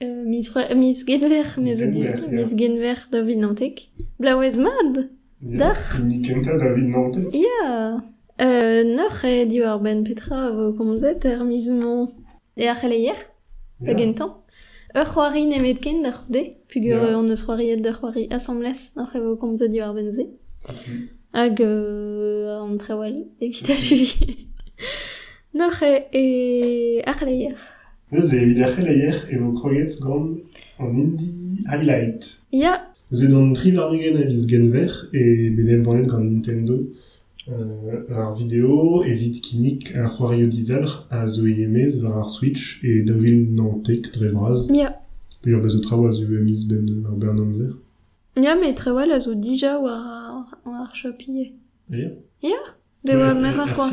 miz c'hwec'h miz genver mes a du miz genver daouvit naontek blaouez mat d'ac'h hini kentañ daouvit naontek ya noc'h eo diwar-benn petra e vo komzet er miz-mañ e ar c'heleier da gentañ ur c'hoari nemetken da c'houde pugur hon eus c'hoariet d'ur c'hoari asambles noc'h e vo komzet diwar-benn-se hag an trawal evit achuiñ Neuze e ar c'heleier. Neuze evit ar c'heleier e vo kroget gant an Indie Highlight. Ya, Neuze d'an tri warn-ugent a viz Genver eo bet embannet gant Nintendo euh, ar video evit kinnig ar c'hoarioù dizalc'h a zo e-maez war ar Switch e daou vil naontek dre vras. ya. Peger bezo traoù a zo ivez miz benn ar bern amzer. Ya, mais trawal a zo dija war ar, war ar Shopee. Ya. Ya. Bet oa meur a c'hoar.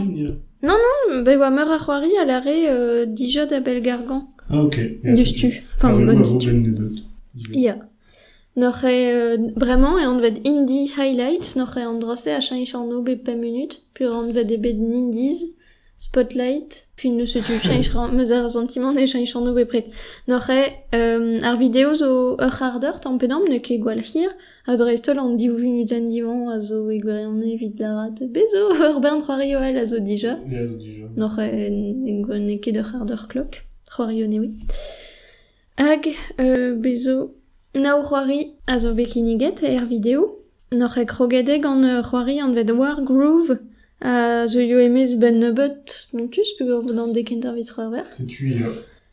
Non, non, bet oa meur a c'hoari a lâre euh, dija da Bell-Gargan. Ah ok. Diouzhtu. Enfin, Ah oui, bonne ouais, diouzhtu. bon, ben nebeut. Ya. Noc'h eo euh, bremañ e anvet Indie Highlights, noc'h eo an dra-se a cheñch anv bep pemp munut, peur anvet eo bet Nindies, Spotlight, puis ne setu cheñch ra- meus ar santimant e cheñch anv bepred. Noc'h eo euh, ar video zo ur c'hard eur tamm pe damm, n'eo ket gwall hir, Ha dreist-holl an div vunutenn-divañ a zo e gwirionez evit lâret bez' zo ur bern c'hoarioù all a zo dija. N'oc'h n'eo ket ur c'hard ur klok, c'hoarioù newe. Hag bez' zo nav c'hoari a zo bet kinniget er video. N'oc'h ket kroget eo gant c'hoari anvet War Groove a zeuio e-maez 'benn nebeut spontus peogwir 'vo dawn dek intervez c'hwec'h werz. Setu ya.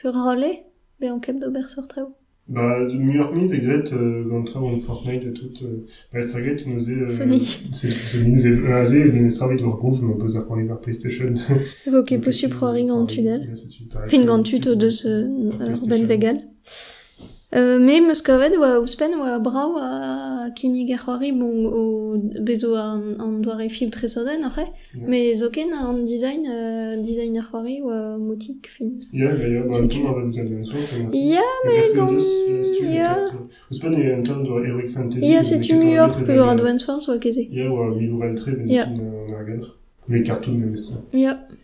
Furc'hale ? Bezañ ket d'ober seurt traoù. Ba muioc'h-mui vez graet gant traoù Fortnite ha tout. Ba staget neuze... Sonic. Sonic neuze aze memestra evit ur groove ma peus da c'hoari war PlayStation. E vo ket posupl c'hoari gant tunnel. Fin gant tud o deus ur benn vegal. Me 'm eus kavet oa ouzhpenn oa brav kinnig ar c'hoari bon o bez zo an doare film tresadenn oc'h eo met zoken an design design ar c'hoari oa motik fin ya met gant ya ya setu ur peur advance force oa ket se ya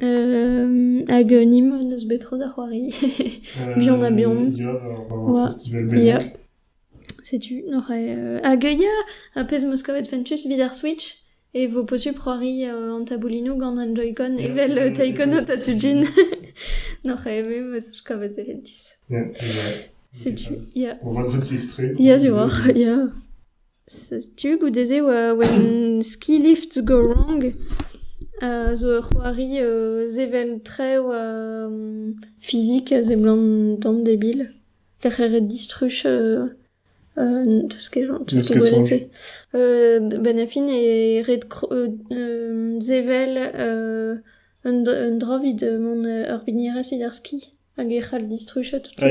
Hag Nîmes n'eus bet tro da c'hoari buan ha buan. Ya, ar festival Bellac. Setu oc'h hag ya, ar pezh 'm eus kavet fentus evit ar Switch e vo posupl c'hoari an taboulinoù gant an Joy-Con evel Taekwondo Tatsujin. N'oc'h eve ma 'z eus kavet e fentus. Ya, ya. Setu, ya. On va dresser extrait. Ya, ziwoc'h, ya. Setu goude-se when ski lift to go wrong zo ur c'hoari sevel-trev fizik a seblant tamm debil. Darc'heret distruj n'eus ket gwelet-se. Benn ar fin e ret sevel un dra evit mont ur bignerez evit ar ski hag e c'hall distrujañ tout-se.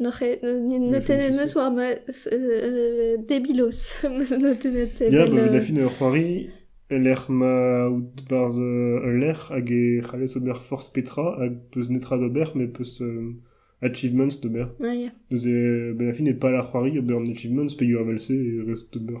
Ne tennet eus war ma debilos. Ya, ba da fin ur c'hoari e-lec'h ma out barzh ul lec'h hag e c'hallez ober forzh petra hag peus netra d'ober met peus achievements d'ober. Ah ya. Neuze, ba da fin e pal ar c'hoari ober an achievements peogwir evel-se e rez d'ober.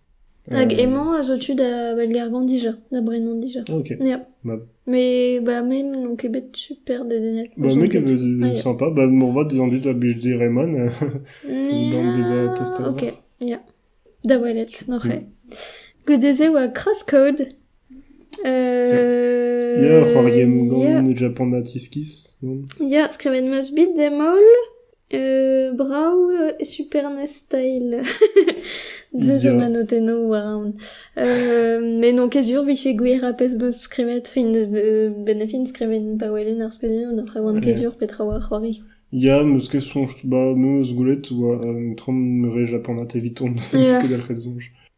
Hag hemañ a zo tu da Belgargan dija, da Brenan dija. Ok. Ya. Bah. Mais bah me n'ont ket bet super dedennel. Bah me ket ket. euh, sympa. Bah moarvat dizan dit da bildi Reman. euh, Zidan beza testet. Ok, ya. Da welet, noc'he. Goude-se oa crosscode. Euh... Ya, c'hoari gant ya. Japan at iskiz. Ya, skrivet 'm eus bet dem holl. Brav e Super NES Style. Deus an anotennoù war aon. met n'on ket sur 'vije gwir ha pezh 'beus skrivet fin ben e fin skrivet pa welen ar skeudenn après 'oan ket sur petra 'oa c'hoari. Ya, 'meus ket soñj. Ba, me 'meus gwelet 'oa un tramm re japanat eviton. N'em eus ket dalc'het soñj.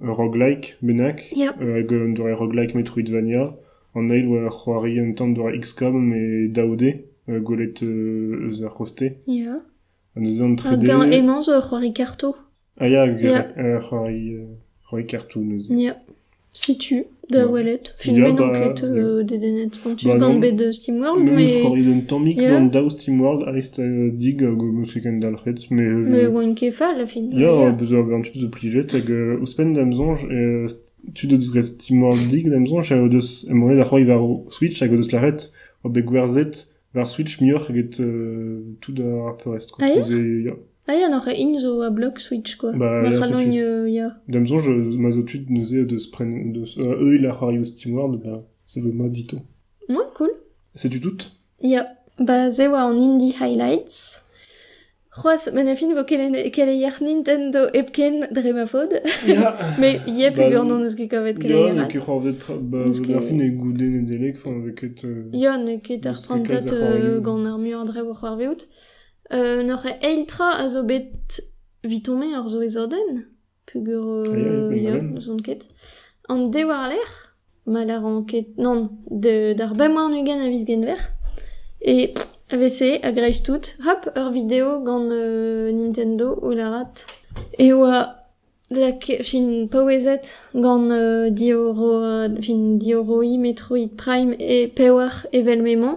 Ur roguelike bennak hag un doare roguelike Metroidvania an eil oa c'hoari un tamm doare XCOM e daou D gwelet eus ar c'hoste. Ha neuze an trede... Hag emañ zo ur c'hoari kartoù. Ah ya, ur c'hoari kartoù neuze. Setu. Da welet. Film Ya, bet enket bah, euh, dedennet spontif bah gant non. bet euh, SteamWorld, Mais mais... ouzh korridenn tammik Ya. d'an daou SteamWorld aist euh, dig hag o meus kendalc'het. Mais euh, Mais oa un kefa, la fin. ya, Ya. bezañ ur bern tud zo plijet hag euh, ouzhpenn da'm soñj euh, tud o deus graet SteamWorld dig da'm soñj ha o deus emanet da c'hoari war o Switch hag o deus lâret oa bet gwerzhet War Switch muioc'h eget tout ar peurrest quoi. Aïe ya. Aïe, an int zo a blog Switch quoi. Bah, ma c'halogn ya. D'am soñj, ma zo tud neuze de se prendre, de, eux ils la c'hoarioù au SteamWorld, bah ça veut moi dit tout. Ouais, cool. Setu tout? Ya. Bah se oa an Indie Highlights. C'hoazh ma na fin 'vo keleier Nintendo hepken dre ma faot. Met yep peogwir n'hon eus ket kavet keleier all. Ya, n'eo ket c'hoarvezet tra, ba, ar fin eo goude Nedeleg, enfin n'eo ket... Ya, n'eo ket ar prantad gant ar muiañ dre vo c'hoarvezout. N'oc'h eil tra a zo bet 'vit hon-me ur souezhodenn? Peogwir ya, n'ouzon ket. An de war-lerc'h ma lâran ket nann, d'ar bemp warn-ugent a viz Genver e evese a-greiz-tout hop ur video gant Nintendo o lârat e oa lakaet fin paouezet gant diorroiñ Metroid Prime e pevar evel m'emañ.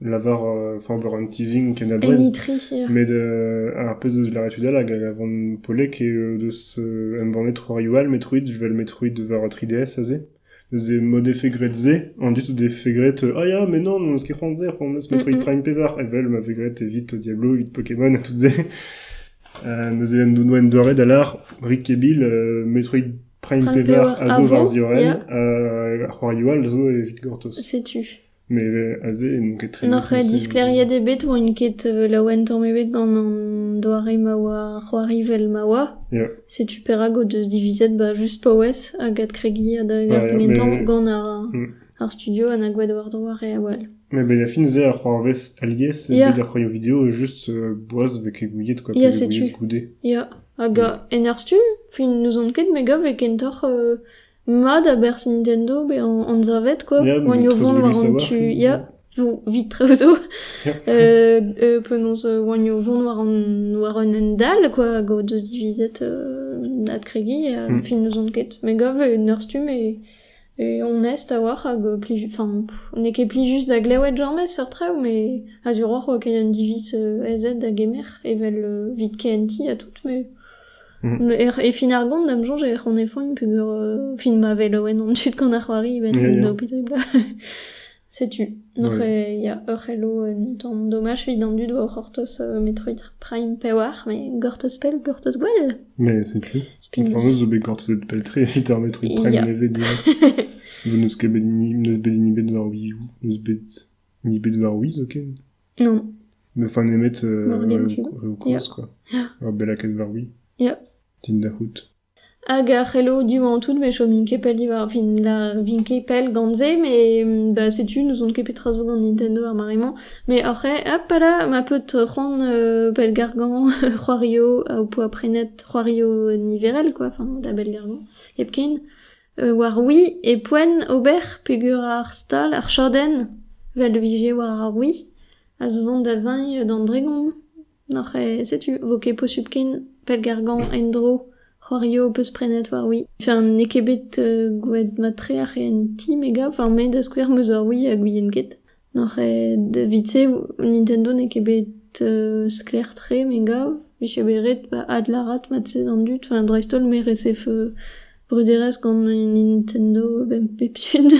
lavar enfin ober un teasing ken abred met ar pezh eus lâret tud all hag a van poellek eo deus embannet c'hoarioù all Metroid evel Metroid war 3DS aze neuze mod efegret-se an dud o defe graet ah ya mais non n'eus ket c'hoant se c'hoant eus Metroid Prime pevar evel ma vez graet evit Diablo evit Pokémon ha tout se neuze en dono en doare da lar Rick e Bill Metroid Prime pevar a zo war ziorren ha c'hoarioù all zo evit gortoz setu Met aze n'on ket tre... N'oc'h disklêriet ebet, 'oin ket laouen tamm ebet gant an doare ma oa c'hoari 'vel ma oa. Ya. Setu perak o deus divizet ba just paouez hag adkregiñ adalek ar pennetañ gant ar mm. ar studio ha na gwad war-dro ar re a-walh. Mais ben a fin se ar c'hoarvez alies evit ar c'hoarioù video e just euh, boaz vez ket gouiet quoi, vez gouiet goude. Ya, hag mm. en ar studio, fin n'ouzon ket me gav e kentoc'h euh, Mat a bersonien eo bezañ anzavet quoi, poanioù vont war an tu, ya, zo evit traoù zo, penaos oanioù vont war an war un hent dall quoi, hag o deus divizet adkregiñ ha fin n'ouzon ket, me gav en ur stumm eo onest a-walc'h hag plij, enfin n'eo ket plijus da glewet james seurt traoù mais a-ziwroc'h oa ket un diviz ez ed da gemer evel evit kehentiñ ha tout mais... E fin ar gont, da'm soñj ec'h anefoint peger... fin ma velaouen an dud gant ar c'hoari evel an obitabl. Setu, n'oc'h ya, ur c'helo un tamm domaj evit an dud o c'hortoz Metroid Prime pewar, met gortoz pell, gortoz gwell. Mais c'est true. Inferno zo bet gortozet pell-tre evit ar Metroid Prime nevez direct. Vo n'eus ket bet ni, n'eus bet ni bet war Wii U, n'eus bet ni bet war Wiz, ok? Non. Me fa nemet reoù-koz, quoi. Ur bellakenn war-wii. Ya. Tinder-c'hoût. Hag ar c'hello du-mañ tout, me chom ket pell diwar, fin, la, vin ket pell gant se, mais bah setu, n'ouzon ket petra zo gant Nintendo ar mare-mañ. Mais oc'h-c'hweh, hop là, ma peut c'hoant euh, pellgargañ c'hoario au poa prenet c'hoario niverel, quoi, enfin, da bellgargañ hepken. War-wi e poent ober peger ar stal, ar chadenn, 'vel 'vije war ar oui, a zo vont da zeñv d'an dregon. Oc'h e setu 'vo ket posupl ken pellgargañ en-dro c'hoario ho-peus prenet war-wi. Enfin n'eo ket bet gwelet mat-tre ar c'hehentiñ me gav, enfin me da skouer 'm eus ur oui ha gouien ket. N'oc'h ket evit-se Nintendo n'eo ket bet sklaer-tre me gav. Vije bet ret adlârat mat-se d'an dud. Enfin dreist-holl me resef bruderezh gant Nintendo benn pep tud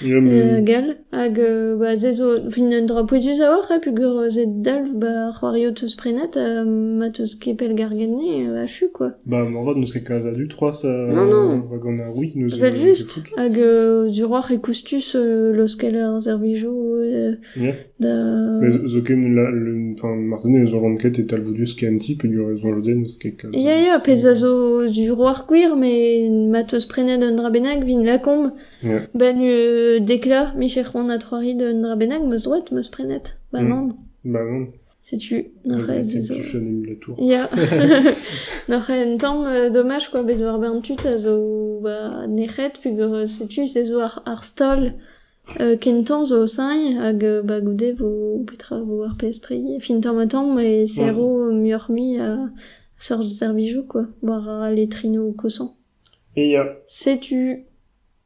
hag all. Hag ba se zo fin un dra pouezus a-walc'h ha peogwir se dalv ba c'hoarioù 'teus prenet ha ma 'teus ket pellgarget-ni achu quoi. Ba moarvat n'eus ket kalz a dud c'hoazh. Non non. Rak an a oui n'eus... Evel-just. Hag euh, duroc'h e koustus euh, laoskel ar servijoù euh, Yeah. da... Mais zoken là, le, enfin, marteze ne soñjan ket e talvoudus kenti peogwir e soñj den eus kek. euh, Ya, ya, pezh a zo duroc'h gwir, met ma teus prenet un dra bennak, vin lakomp. Yeah. Ben euh, dekla, micher c'hoant ha troarit un dra bennak, meus droet, meus prenet. Ba Mm. nan. Bah non. Setu neuze ez eo... Ya, neuze un tamm domaj quoi, bez' zo ar bern tud a zo ba nec'het peogwir setu se zo ar ar stol kentañ zo sailh hag ba goude vo petra vo ar pestriñ fin tamm-ha-tamm e serro muioc'h-mui a seurt servijoù quoi, war al letrinoù kosañ. Setu.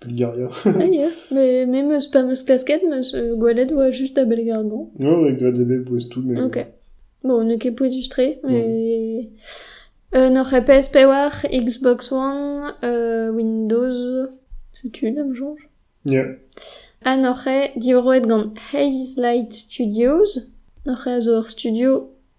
Bulgaria. Ah, yeah. Mais, mais meus, pa meus klasket, meus euh, gwelet oa just da Belgradon. Ouais, ouais, grad ebet bouez tout, mais... Ok. Bon, n'eo ket pouezus-tre, mais... Euh, nor PS5, Xbox One, euh, Windows... Setu une, am soñj. Yeah. Ha nor eo diwaroet gant Haze Light Studios. Nor eo a zo ur studio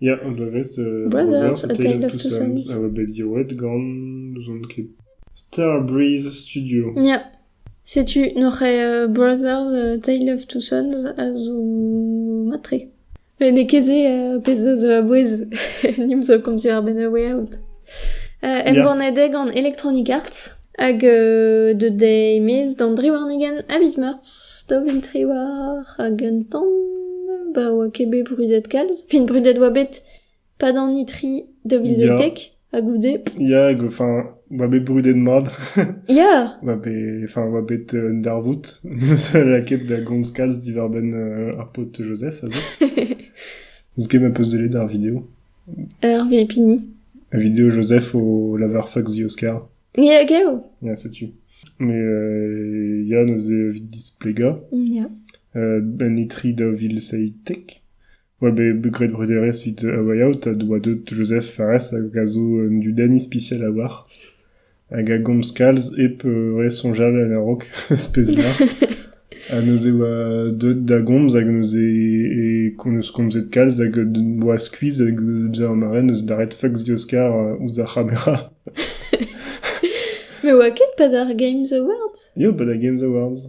Ya, an danvez browser Tale of Two Suns a oa bet diwallet gant n'ouzon ket Starbreeze Studio. Ya. Setu nore browsers Tale of Two Suns a zo matre. N'eo ket se pezh da zo a-bouez nim zo konti ar benn a way out. Embannet eo gant Electronic Arts. Hag deut dezhi e-maez d'an dri warn-ugent a viz Meurzh, daou vil tri war hag un tamm ba oa ket bet brudet kalz. Fin brudet oa bet pad an itri daou vil Ya. deitek ha goude Ya, hag enfin, oa bet brudet mat. ya oa bet, enfin, oa bet euh, un darvoud. Ne seul lakaet da gomz kalz diwar-benn euh, ar paotr Joseph, a zo. N'eus ket ma peus sellet ar video. Hervé Pigny. La vidéo Joseph au Lavar Fox The Oscar. Hag eo Yeah, setu. Mais euh, Yann ose evit displega. Yeah. Euh, ben etri daouvil seitek. Oa bet gret bruderez vit a way out a doa deut Joseph Fares hag a zo un dudenn ispicial a war. hag a gomz kalz hep re soñjal en a-raok speziañ. Ha neuze oa deuet da gomz hag neuze e, neus komzet kalz hag oa skuizh hag bezañ ma ren neus lâret fuck the Oscar ouzh ar c'hamera. Me oa ket Pada Games Awards? Ya, Pada Games Awards.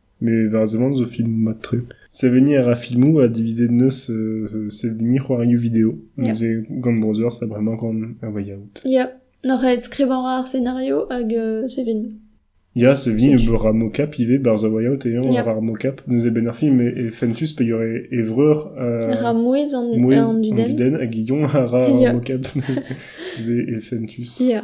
Met war seblant zo filmoù mat-tre. Seveniñ a ra filmoù ha divizet 'neus seveniñ c'hoarioù video. Yeah. Neuze gant Browsers a bremañ gant un way out. Ya, n'oc'h aet skrivañ ar scenario hag euh, seveniñ. Ya, seveniñ C'est- e beurre ar mocap ivez, barzh a way out et on Yeah. ar mocap. Neuze benn ar film e, e fentus pa y aurait e vreur euh, Ra mouezh an, mouez an dudenn. hag ilon a ra ar Yeah. mocap. Neuze e fentus. Ya,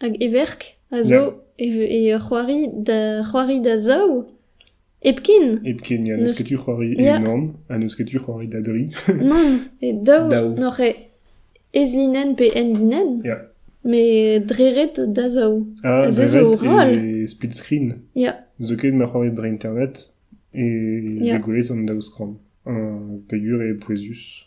Hag e verk a zo e c'hoari da c'hoari da zaou hepken. Hepken, ya, n'eus ket tu c'hoari e-unan ha n'eus ket tu c'hoari da dri. Non, e daou n'oc'h ez-linenn pe end-linenn. Ya. Met dreret da zaou. Ah, dreret e split screen. Ya. Zoken ma c'hoari dre internet e yeah. gwelet an daou skran. Pegur e pouezus.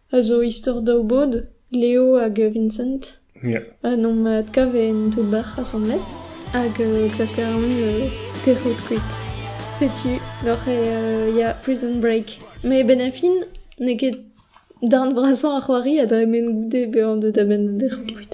a zo istor daou bod, Leo hag Vincent. Ya. Ha nomp adkav en tout bac'h asambles hag euh, klasker a ran euh, tec'hout kuit. Setu doc'h euh, ya prison break. Mais benn a fin, n'eo ket darn vrasañ ar c'hoari a dremen goude bezañ deuet a-benn da dec'hout kuit.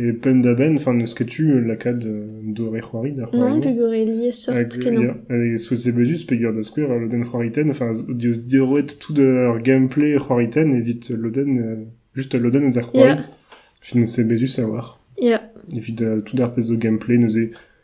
E penn-da-benn, enfin, n'eus ket tu lakaat un doré-c'hoari da c'hoari. Non, pegore liesseurt kenañ. Hag so sebezuz peger da skouer ur lodenn c'hoariten, enfin, eo diorroet tout ar gameplay c'hoariten evit ul lodenn, just ul lodenn eus ar c'hoari. Fin sebezuz a-walc'h. Evit tout ar pezh zo gameplay neuze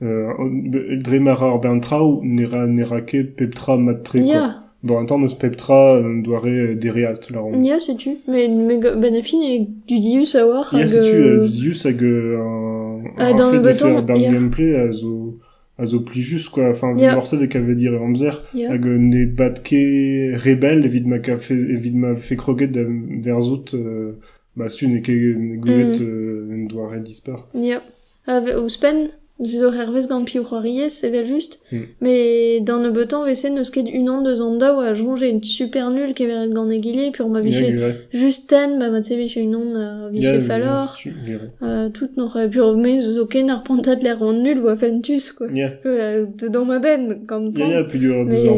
Dre ma ra ar bern traoù ne ra ket pep tra mat-tre quoi. Bon un tamm eus pep tra un doare dereat lâromp. Ya setu, met benn ar fin eo dudius a-walc'h hag... Ya setu dudius hag ar fait de faire ar bern gameplay a zo a zo plijus quoi. Enfin morse dek a vez dire e amzer hag ne bad ket re bell evit ma kafe evit ma vefe kroget da verzout bah setu n'eo ket goulet un doare dispar. Ya. Ouzhpenn, se zo hervez gant piv c'hoariez, evel-just, met da nebeutañ 'vese n'eus ket unan deus an daou a soñje super nul keveret gant egile peogwir ma vije just tenn ba mat-se 'vije unan a vije falloc'h, tout n'oc'h peogwir zo ken ar pantad lec'hvant nul oa fentus quoi, dedans ma benn gant koan, mais...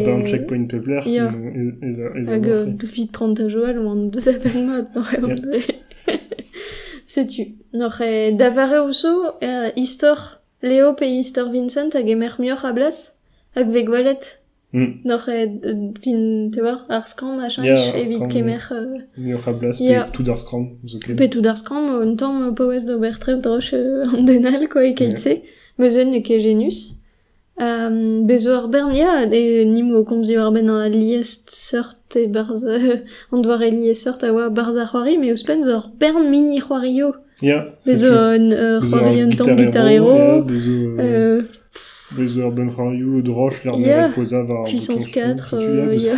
hag 'vit prant ha Joël oant deus a-benn mat, oc'h eo dre. Setu, n'oc'h ket daveret zo istor Leo pe istor Vincent a gemer muioc'h a blas hag vez gwelet n'oc'h ket fin te oar ar skramm a cheñch evit kemer muioc'h a blas pe tout ar skramm zoken pe tout ar skramm un tamm paouez d'ober trev droch an den all quoi e keit-se ma se n'eo ket genius Bez 'zo ur bern ya, ni 'mo komz diwar-benn al liesseurt e-barzh an doare liesseurt a oa 'barzh ar c'hoari met ouzhpenn 'zo ur bern mini-c'hoarioù. Bez 'zo un c'hoari un tamm gitarero. Bez 'zo ur bern c'hoarioù droch lec'h m'emañ o pozañ war bouton fotu ya.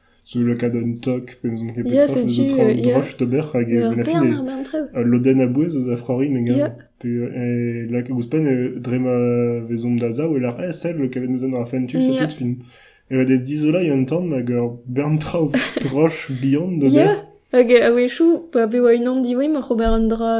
Zo lakaat un tog pe n'ouzon ket petra, a zo tra an droch d'ober hag menachin al lodenn a-bouez eus a Frori me gav. Pe lak ouzhpenn dre ma vezomp da zaou e lar eh sell kavet neus an ar fentu c'est tout fin. E vez dizoloiñ un tamm hag ur bern traoù droch bihan d'ober. Hag a-wechoù, pa bev unan diwezhañ, oc'h ober un dra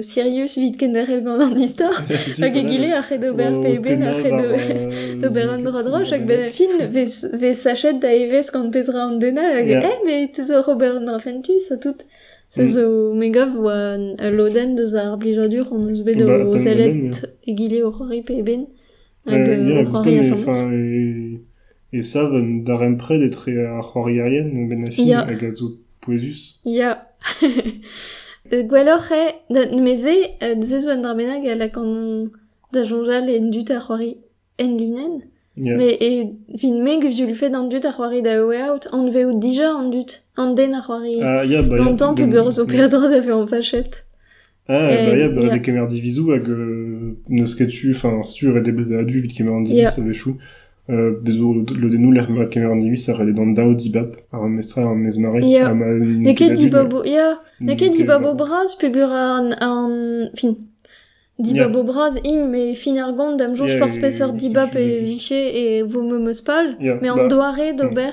sirius evit kenderc'hel gant an istor, hag egile a c'hed ober peben, a c'hed ober un dra droch, hag benn ar fin vez sachet da evezh gant pezh ra an den all, hag eh mais te zo oc'h ober un dra fentus ha tout. Se zo me gav oa ul lodenn deus ar blijadur hon eus bet o sellet egile oc'h horri peben. Ya, ouzhpenn e sav un darempred etre ar c'hoarierien bennafi hag a zo pouezus. Ya. Gwelloc'h eo, neuze se zo un dra bennak a lakan da soñjal en dud ar c'hoari en linenn. Yeah. Mais evit me, gouzout vel fait an dud a c'hoari da Way Out, anveout dija an dud, an den a c'hoari ah, yeah, bah, longtemps yeah, peogwir zo kaer dra da vezañ fachet. Ah, Et- bah yeah, bah, yeah. des kemmer divizoù hag euh, n'eus ket tu, enfin, si tu redé bezet adu vit kemer an diviz Yeah. a wechoù, euh, bezo lodennoù lec'h ma kemer an diviz a rede d'an daou dibab ar mestra ar mesmari Yeah. ha ma N'eo ket dibab o- yeah. N'eo ket dibab o bras peger an an fin dibab o bras int me fin ar gont da'm soñj Yeah, forzh peseurt et dibab tu- e tu- vije e vo memeus pal Yeah, mais an bah, doare d'ober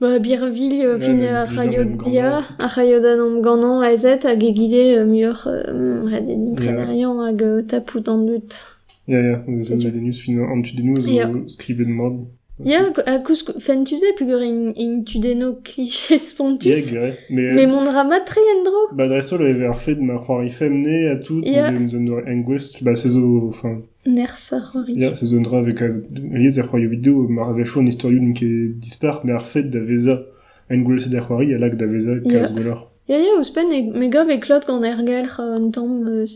Ba birvilh fin ar c'halloud-biañ ar c'halloud-an-omp ganañ aezet hag egile muioc'h redennimprennerion hag tapout an dud. Ya ya, zo medennus fin an tudennoù zo skrivet mat. Ya ha koulskoude fentus eo peogwir int tudennoù kliché spontus. Mais mont ra mat-tre en-dro. Ba dreist-holl e vez ar fed ma c'hoari femne ha tout, neus un doare engouestl, ba se zo enfin Nerzh ar c'hoari. Nerzh zo un dra a vez kavet. Alies er c'hoarioù-video, mar avechont an istorioù n'int ket dispar, met ar fed da vezañ engouestlet er c'hoari a lak da vezañ kalz gwelloc'h. Ya, ya, ouzhpenn e, me gav e klot gant ergelc'h un tamm euh,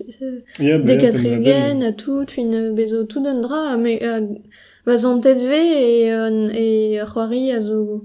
Ya, ba- ya, dekatrilien ha tout, fin euh, bezo tout un dra ha, me, ha va zantet vez e, euh, e c'hoari a zo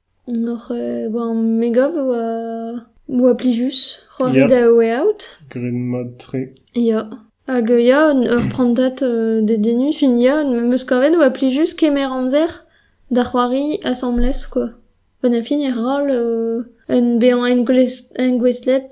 Hoc'h eus me gav e oa plijus c'hoari da Way Out. Graet mat-tre. Ya. Hag ya, ur prantad dedennus. Fin ya, am eus kavet e oa plijus kemer amzer da c'hoari asambles kwa. Pa na fin e roll en bezañ engouestlet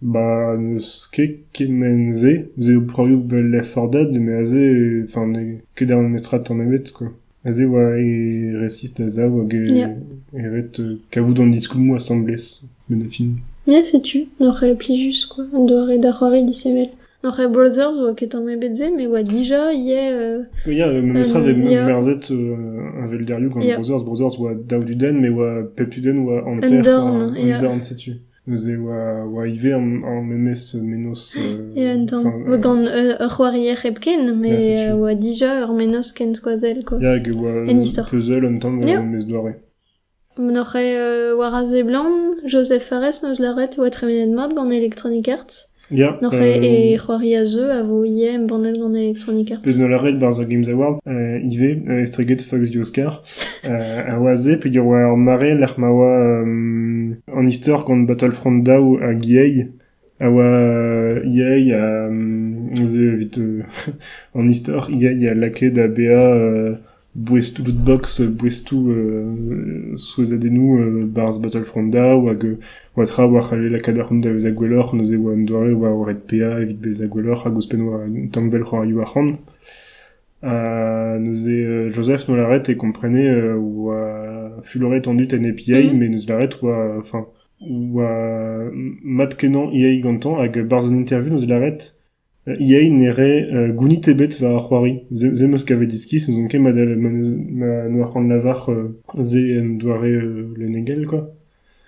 Ba n'eus ket kement-se, se eo broioù 'vel lefordad eme aze enfin n'eo ket ar memestra tamm ebet quoi, aze e oa e resis da sav hag e e ret kavout an diskoulmoù asambles met da fin. Ya setu, n'oc'h ket plijus quoi, an doare da c'hoari disheñvel, oc'h e browser zo ket tamm ebet se met e oa dija ivez euh... Ya memestra 'vez merzet a velderioù gant browsers, browsers 'oa dav dudenn met 'oa pep tudenn 'oa hanter an dorn setu. Neuze e oa ivez ar memes mennozh. Ya, un tamm. Gant ur c'hoarier hepken, met e oa dija ur mennozh ken skoazell, quoi. Ya, hag e oa un puzzle un tamm war an maez doare. N'oc'h ket war a seblant, Joseph Fares 'neus lâret e oa tremenet mat gant Electronic Arts. N'oc'h ket e c'hoari a zeu a vo ivez embannet gant Electronic Arts. Pezh 'no lâret 'barzh ar Games Award ivez, estreget Fox The Oscar. a oa se peger oa ur mare lec'h ma oa an istor gant Battlefront daou hag EA a oa EA a neuze evit an istor EA a lakae da bezañ Boestoù-lootbox, boestoù souezhadennoù 'barzh Battlefront Daw hag oa tra oa c'halle lakaat ar c'hoant da vezañ gwelloc'h neuze oa un doare war red PA evit bezañ gwelloc'h hag ouzhpenn oa un tanvell c'hoarioù arc'hant. Ha neuze Joseph noa lâret e komprenait oa fuloret an dud en hep EA met neus lâret oa enfin oa mat-kenañ EA gantañ hag barzh an interview neus lâret Yay ne rae gounid ebet war ar c'hoari, se 'm eus kavet iskis, n'on ket mat ma c'hanlavar se en doare lennegel quoi.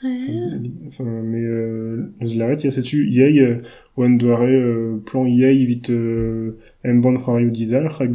Mais eus lâret ya setu Yay oa un doare plan Yay evit embann c'hoarioù dizalc'h hag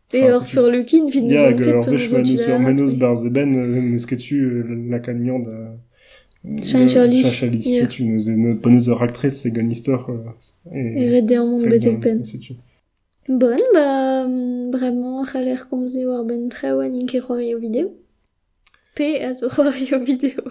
Peoc'h sur Lukin, vit nous en ket peu nous en Menos barz eben, n'esketu lakagnan da Chanchalis. Chanchalis, setu nous en bonus de ractrice c'est gon histoire et ret deomp on betek pen. Bon, bah vraiment, c'haller komze war ben traoù ha n'int ket roio video. Pe a zo c'hoari o video.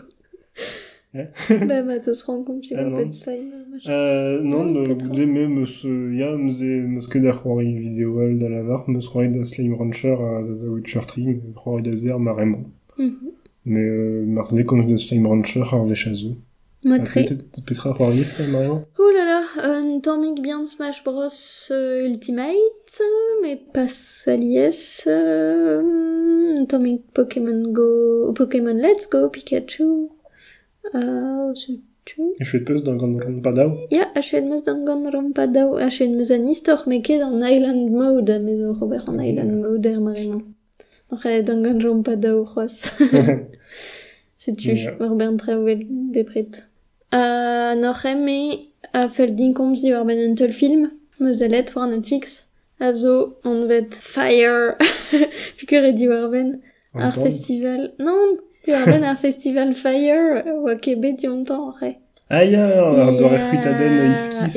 Bah ma 'zeus rankomp e Oppenstein machin. Euh, non, euh, goude me 'meus euh, ya, 'meus e- 'meus ket da c'hoari video all da lavar. 'Meus c'hoaret da Slime Rancher ha da The Witcher 3, me 'meus c'hoaret da Zer maremañ. Mhm. Mais euh, marteze komz deus Slime Rancher ar wech a zo. Matre. Petra a c'hoarie ça, Marion Ouh là là, un tammig bien Smash Bros euh, Ultimate, mais pas alies. Euh, un tammig Pokémon Go, Pokémon Let's Go, Pikachu. Euh, c'est-tu Echuet peus gant Rampadao Ya, achuet meus gant gant Rampadao, achuet meus an istor, met ket an Island Mode, a mezo Robert an Island Mode er maremañ. Oc'h aet gant gant jompat daou c'hoazh. Setu ur bern traoù 'vel bepred. Ha n'oc'h eme a fell din komz diwar-benn un teulfilm 'm eus sellet war Netflix a zo anvet Fire. Piker eo diwar-benn ar festival... Non, diwar-benn ar festival Fire 'oa ket bet dioutañ oc'h eo. Ah ya! Ar doare c'hwitadenn iskis...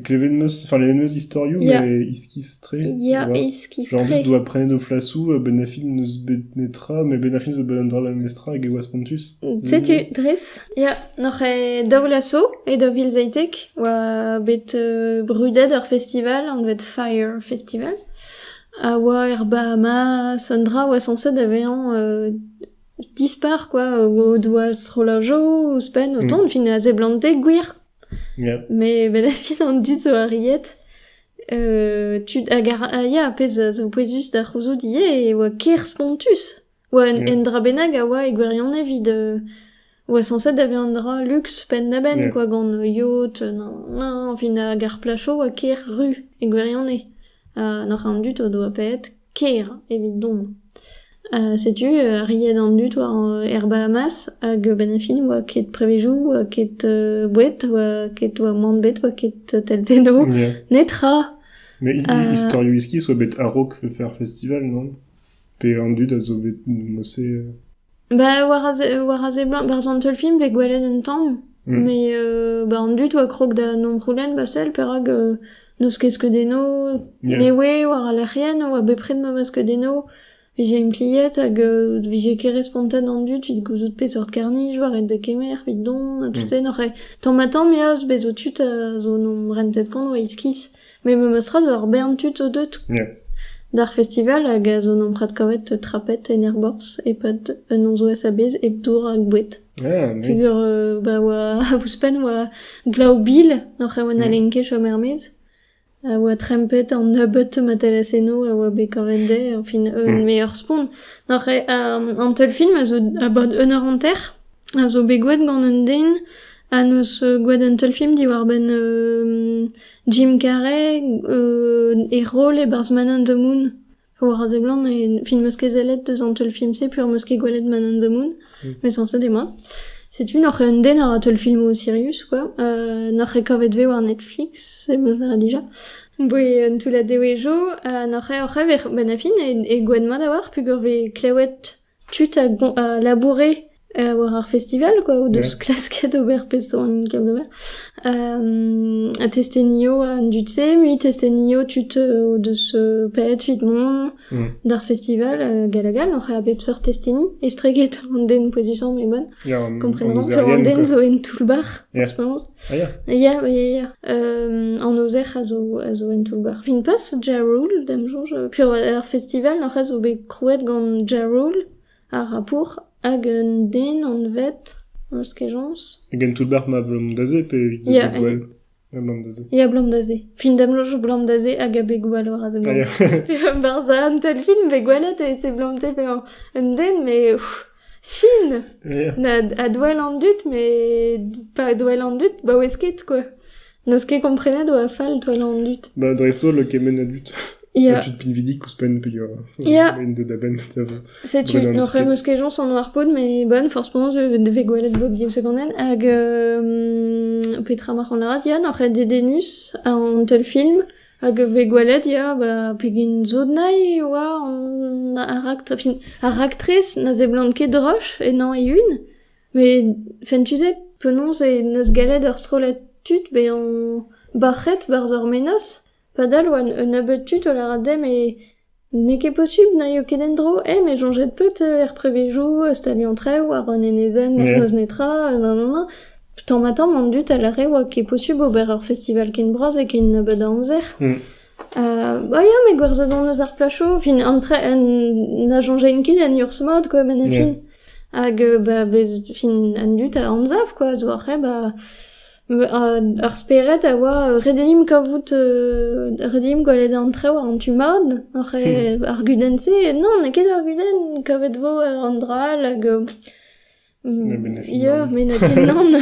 Klevet 'm eus, enfin lennet 'm eus istorioù, Yeah. mais iskis-tre. Yeah, tu vois. Genre iskis-tre. doa prenet o flasou, ha Ben Affleck n'eus bet netra, mais Ben Affleck zo bet un drame amestra hag e oa spontus. Setu, dres, ya, n'oc'h e daou laso e daou vil zeitek oa bet euh, brudet ar festival, anvet Fire Festival, a oa er Bahamas, un dra oa censé da vezañ euh, dispar, quoi, o doa strollajo ouzhpenn o Mm. tont, fin a seblante gwir Met a fin an dud zo arriet tud hag a ya ar pezh a zo pouezus da c'houzout ivez e oa ker spontus. oa un un dra bennak a oa e gwirionez evit oa sañset da vezañ un dra luks penn-da-benn quoi gant yod fin hag ar placho oa ker ru e gwirionez ha n'oc'h an dud o doa paeet ker evit dont. setu riet an dud war er Bahamas hag benn ar fin oa ket prevezioù, oa ket boued, oa ket oa mann bet, oa ket teltennoù, netra! Mais istorioù iskis oa bet a-raok faire festival, non? Pe an dud a zo bet mossé... Bah war a se- war a seblant, barzh an teulfilm vez gwelet un tamm, mais euh, bah an dud oa krog da nomc'houlenn ba sell perak euh, n'eus ket skeudenno, Yeah. ne oe war al lec'hienn, oa bepred ma ma skeudenno, vije impliet hag euh, vije ket respontet an dud evit gouzout peseurt karr-nij oa ret da kemer evit dont ha tout-se n'oc'h ket tamm-ha-tamm ya, bez' zo tud a zo nom rentet kont oa iskis. Met memes tra zo ur bern tud zo deuet d'ar festival hag a zo nomprad kavet trapet en aerborzh e-pad un nozvezh a-bezh hep dour hag boued. Ah, nice. Peger euh, ba oa ouzhpenn oa glav bil oc'h e oa na len ket chom er-maez. A oa trempet an nebeut ma telas eno a oa bet kavet dezhe, enfin un Mm. meilleur spont. Oc'h e, euh, an teul film a zo about un eur hanter, a zo bet gwelet gant un den a neus euh, gwelet un teul film diwar-benn euh, Jim Carrey e roll e-barzh Man on the Moon. War a seblant, fin 'meus ket sellet deus an teulfilm-se peur 'meus ket gwelet Man on the Moon, met sañset eo mat. Setu noc'h eo un den a ra teulfilmoù sirius, quoi. Euh, noc'h eo kavet vez war Netflix, e meus aze dija. Boe un toullad dewezho, ha noc'h eo oc'h ever, benn a fin, e gouenn mat a oar peogwir vez klewet Tud a laboure war ar festival quoi, o deus klasket ober peseurt gamm d'ober. ha testenioù an dud-se, mui testenioù tud o deus paeet evit mont d'ar festival hag hag all, oc'h a bep seurt testeni, estreget an den pouezusañ m'emaon, komprenan, pe an den zo en toull-bac'h, en ce moment. Ya, ya, ya, an ozer a zo a zo en toull-bac'h. Fin pas Ja-Rule, d'am soñj. P'eo ar festival, ar c'hoaz zo bet krouet gant Ja-Rule, ar Rapour, hag un den anvet... Eus kejañs? Gant toull-bac'h ma Blom-Dazé, pe evit Abeg Gouel? Ya, Blom-Dazé. Ya, Blom-Dazé. Fin damloñj Blom-Dazé hag Abeg Gouel war a seblant. Barzh un taol film bet gwelet e seblanté pe un den, mais... Fin! Na a-douell an dud, met pas a-douell an dud, baouez ket, quoi. N'eus ket komprenet oa fall douell an dud. Ba dreist-holl kement a dud. Ya. A tud pinvidik ouzh penn peogwir. Ya. Int deuet a-benn da Setu, oc'h em eus kejañs an oar-pod, mais bon, forzh penaos e vez gwelet Bobby secondenn. Hag petra marc'h an lârat, Yann, oc'h eo dedennus an teul film Hag e vez gwelet ya ba pegen sot-nailh e oa an ar raktres, fin ar raktres na seblant ket droch ennañ e-un, met fentus eo penaos e neus gallet ar strollad tud bezañ bac'het barzh ar menoz padal oa un nebeud tud o lâret dezhe met N'eo ket posubl n'aio ket en-dro, eh me 'soñjet peut er prevezioù, staliañ traoù war un enezenn n'eus netra, nanana. Tamm-ha-tamm an dud a lâre 'oa ket posubl ober ur festival ken bras e ken nebeut a amzer. O ya met gwerzhet hon eus ar plasoù, fin an tra- na soñjain ket en urzh-mat quoi benn e fin. Hag ba bez fin an dud a anzav quoi zo ar c'hre ba Ar spered a oa ret dimp kavout ret dimp gwelet an traoù en tu mat ar gudenn-se. Non, n'eo ket ur gudenn kavet vo war an dra all hag ya, met n'eo ket nann.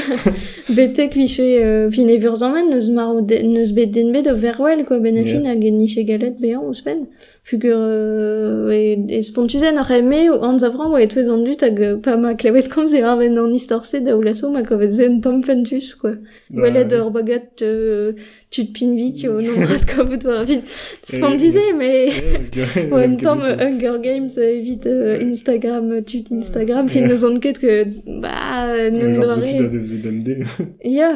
Betek vije fin e vurzamant n'eus marv n'eus bet den bet o vervel quoi, benn ar fin hag n'int ket gallet bezañ ouzhpenn. Pugur e spontuzenn oc'h eme o anzavrañ oa e-touez an dud hag pa ma klevet komz e arbenn an istor-se daoulaso ma kavet se un tamm fentus quoi. Gwelet ur bagad euh, tud pinvidik o nombrad kavout war evit spontuze mais Ouais, un tamm Hunger Games evit euh, Instagram, tud Instagram, qui ne sont ket que bah, Un genre de doare. tud a faisait d'MD. Yeah,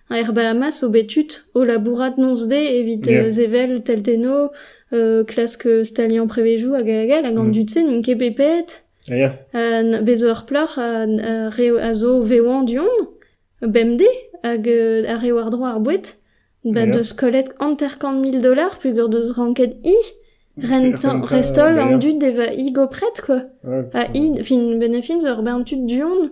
Er Bahamas zo bet tud o labourat noz-de evit sevel teltennoù klask staliañ prevezioù hag hag all hag an dud-se n'int ket bet paeet. Ya. Ha bez' zo ur plac'h a zo vevañ du-hont bemdez hag a re war-dro ar boued ba deus kollet hanter-kant mil dollars peogwir deus ranket hi rentañ rest-holl an dud d'evañ hi gopret quoi. Ha hi fin benefin zo ur bern tud du-hont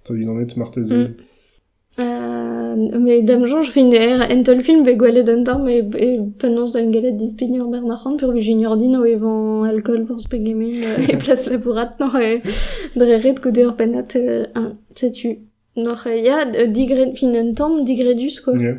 Eta unanet marteze? Mm. Met da'm soñj Finner en teulfilm vez gwelet un tamm e e penaos d'em gellet dispigner Bernarc'hant peurvuiañ Junior Dean o evañ alkool forzh pegement e plas labouratour e dre ret goude ur pennad. euh, hein, setu. Noc'h, euh, ya, d- digred, fin un tamm digredus quoi. Yeah.